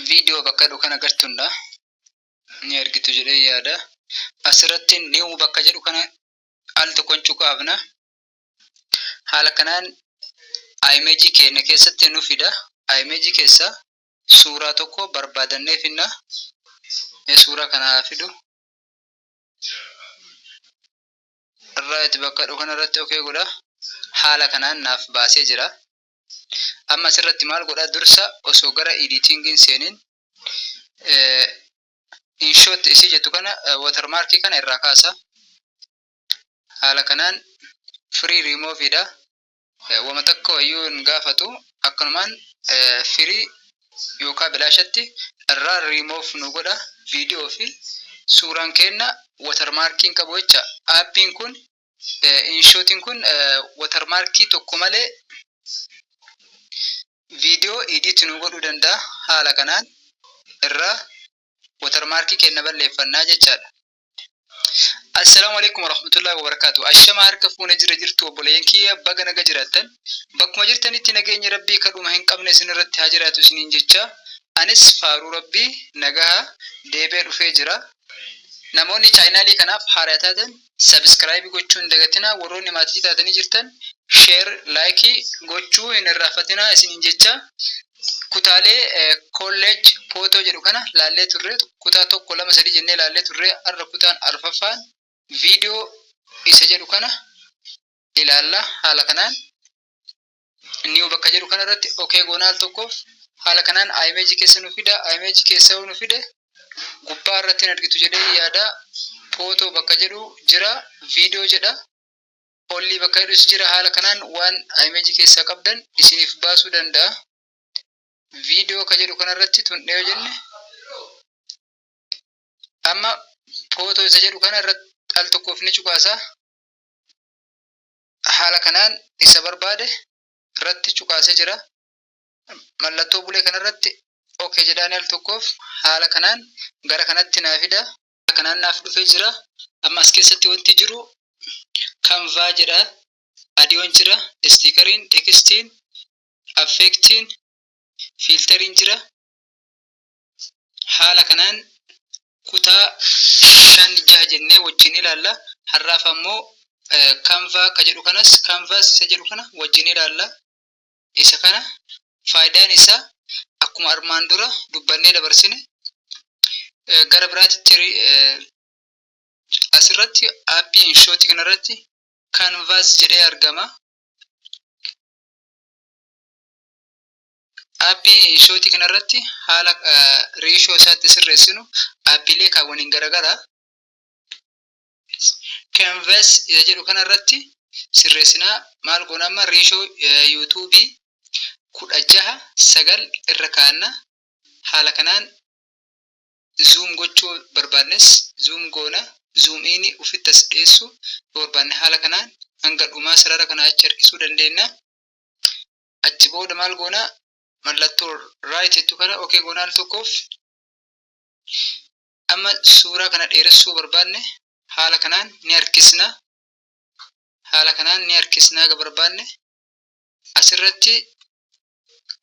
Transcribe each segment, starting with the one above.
viidiyoo bakka jedhu kan agartundha ni argitu jedhee yaada asirratti new bakka jedhu kana al tokkon cuqaafna haala kanaan imejii keenya keessatti nu fida imejii keessa suuraa tokko barbaadannee finna ee suuraa kana haa fidu irraa itti bakka jedhu kana irratti okee godha haala kanaan naaf baasee jira Amma asirratti maal godha dursa osoo gara editing hin seenin inshot isii jettu kana watermark kana irraa kaasa. Haala kanaan free remove dha. Wama takka wayyuu hin gaafatu akkanumaan free yookaan bilaashatti irraa remove nu godha viidiyoo fi suuraan keenna watermark hin qabu jecha aappiin kun Inshootiin kun watermarkii tokko malee video edit nuu godhuu danda'a. Haala kanaan irraa watermarkii keenya balleeffannaa jechaadha. Assalaamu alaikum warahmatullahi wabarakatuh. Ashama harka fuune jira jirtu obboleeyyan kiyya baga naga jiraattan. Bakkuma jirtanitti nageenyi Rabbii kadhuma hin qabne isin irratti haa jiraatu isiniin jecha anis faaruu Rabbii nagaha deebee dhufee jira. Namoonni chaayinaalii kanaaf haaraya taatan subscribe gochuu hin dagatinaa warroonni maatii taatanii jirtan share like gochuu hin irraanfatinaa isiniin jecha kutaalee college photo jedhu kana laallee turre kutaa tokko lama sadii jennee laallee turre har'a kutaan arfaffaan video isa jedhu kana ilaalla haala kanaan new bakka jedhu kana irratti okay goona al tokkoof haala kanaan image keessa nu fida image keessa yoo nu fide gubbaa irratti hin argitu jedhee yaada photo bakka jedhu jira video jedha ollii bakka jedhus jira haala kanaan waan image keessaa qabdan isiniif baasuu danda'a video ka jedhu kana irratti tundhee yoo jenne amma photo isa jedhu kana irratti al tokkoof ni cuqaasa Haala kanaan isa barbaade irratti cuqaasee jira. Mallattoo bulee kanarratti OK jedhaani al tokkoof haala kanaan gara kanatti naa fida. Haala kanaan naaf dhufee jira. Amma as keessatti wanti jiru kanvaa jedha. Adiyoon jira, istiikariin, tekstiin, affeektiin, fiiltariin jira. Haala kanaan kutaa 5, 6 jennee wajjin ilaalla. Har'aaf ammoo Canva ka jedhu kanas Canvas isa jedhu kana wajjin ilaalla. Isa kana faayidaan isaa akkuma armaan dura dubbannee dabarsine gara biraatti asirratti aappii Inshootii kanarratti Canvas jedhee argama. Aappii ishootii kanarratti haala reeshoo isaa itti sirreessinu aappiilee kaawwaniin garagara canvas isa jedhu kanarratti sirreessinaa maal goona amma reeshoo yuutuubii kudha jaha sagal irra kaa'anna haala kanaan zuum gochuu barbaannes zuum goona zuum iini ufitti as dhiyeessu yoo barbaanne haala kanaan hanga dhumaa sarara kana achi harkisuu dandeenya. achi booda maal goona mallattoo right jettu kana ok goona al tokkoof amma suuraa kana dheeressuu barbaanne haala kanaan ni harkisna haala kanaan ni harkisna haga barbaanne asirratti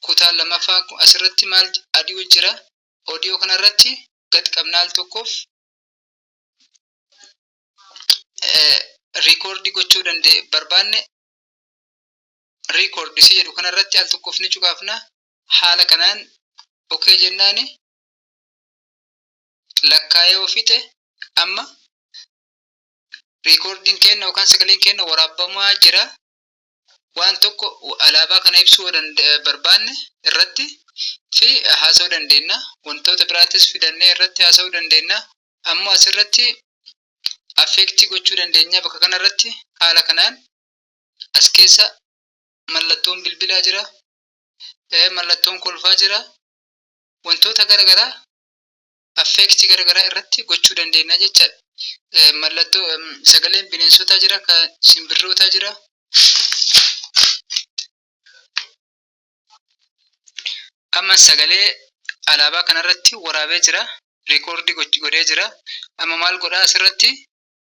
kutaan lammaffaan kun asirratti maal adii jira odiyoo kanarratti gad qabnaa al tokkoof riikoordii gochuu danda'e barbaanne record si jedhu kanarratti al tokkoof ni cuqaafna haala kanaan ok jennaani lakkaa'ee yoo fixe amma reekoordiin keenna yookaan sagaleen keenna waraabamaa jira waan tokko alaabaa kana ibsuu yoo danda- eh, barbaanne irratti fi haasa'uu dandeenya wantoota biraattis fidannee irratti haasa'uu dandeenya ammoo asirratti affeektii gochuu dandeenya bakka kanarratti haala kanaan As keessa mallattoon bilbilaa jira. Mallattoon kolfaa jira. Wantoota gara garaa affeektii gara garaa irratti gochuu dandeenya jechaadha. Mallattoo sagaleen bineensotaa jira, kan simbirrootaa jira. Amma sagalee alaabaa kanarratti waraabee jira. Rikoordii godhee jira. Amma maal godhaa asirratti?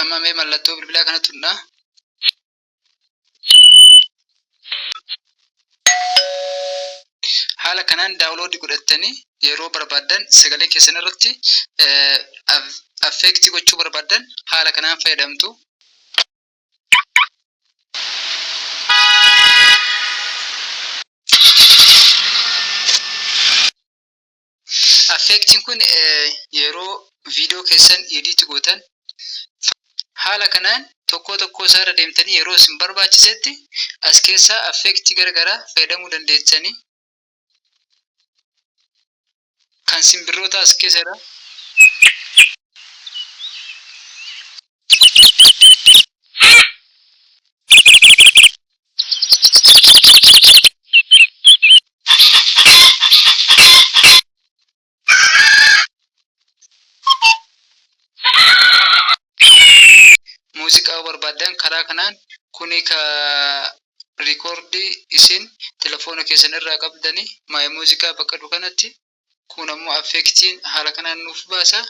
Amma mee mallattoo bilbilaa kana tunnaa. Haala kanaan daawuloodii godhattanii yeroo barbaaddan sagalee keessan irratti affeektii gochuu barbaaddan haala kanaan fayyadamtu. Affeektiin kun yeroo viidiyoo keessan edit gootan haala kanaan tokkoo tokkoo isaa irra deemtanii yeroo isin barbaachisetti as keessaa affeektii gara garaa fayyadamuu dandeessanii kan simbirrootaa as keessa jira. Muuziqaa barbaaddan karaa kanaan kuni ka rikoordii isin telefoona keessan irraa qabdani My Musica bakka jedhu kanatti kun ammoo affeektiin haala kanaan nuuf baasa.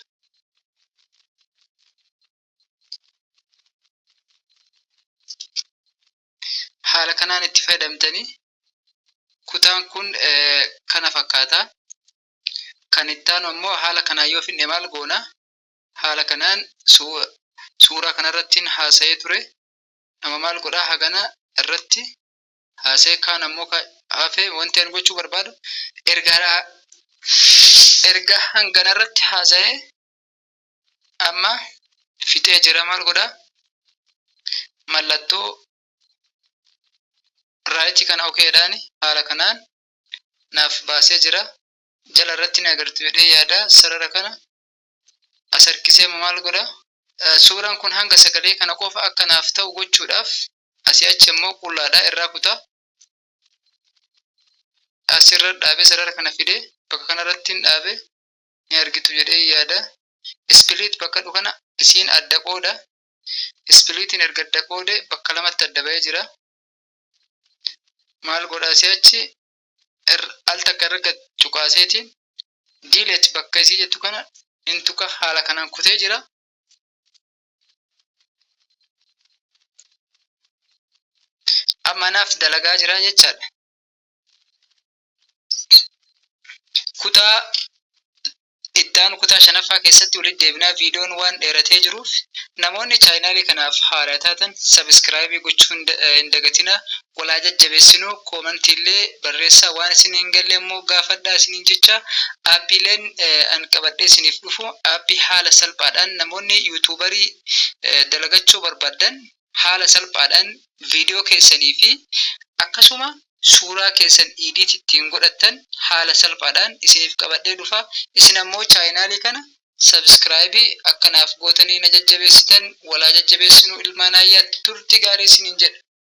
haala kanaan itti fayyadamtanii kutaan kun kana fakkaata. Kan itti aanu ammoo haala kanaan yoo finne maal goona? Haala kanaan suuraa kanarratti haasa'ee ture. Nama maal godhaa hagana irratti haasa'e kaan ammoo ka hafe wanti an gochuu barbaadu ergaa erga hangana irratti haasa'e amma fixee jira maal godha mallattoo raayitii kana okeedhaan haala kanaan naaf baasee jira jala irratti ni agartu jedhee yaada sarara kana as harkisee amma maal godha? Suuraan kun hanga sagalee kana qofa akka naaf ta'u gochuudhaaf asii achi ammoo qullaadhaa irraa kuta. Asirra dhaabee sarara kana fidee bakka kanarratti hin dhaabe ni argitu jedhee yaada. Ispiliit bakka dhu kana isiin adda qooda. Ispiliitiin erga adda qoode bakka lamatti adda ba'ee jira. Maal godha asii achi irra al takka irra gad cuqaaseeti delete bakka isii jettu kana hin tuqa haala kanaan kutee jira. Amma naaf dalagaa jira jechaadha. Kutaa Ittaanu kutaa shanaffaa keessatti walitti deebinaa viidiyoon waan dheeratee jiruuf namoonni chaayinaalii kanaaf haaraa taatan sabiskiraayibii gochuu hin dagatinaa wal haa jajjabeessinuu koomantiillee barreessaa waan isin hin galle immoo gaafadhaa isiniin jechaa aappiileen an qabadhee isiniif dhufu aappii haala salphaadhaan namoonni yuutuubarii dalagachuu barbaaddan haala salphaadhaan video keessanii fi akkasuma suuraa keessan edit ittiin godhattan haala salphaadhaan isiniif qabadhee dhufa. Isin ammoo channel kana subscribe akka naaf gootanii na jajjabeessitan wal haa jajjabeessinu ilmaan Aayyaatti. Turtii gaarii isiniin jedha.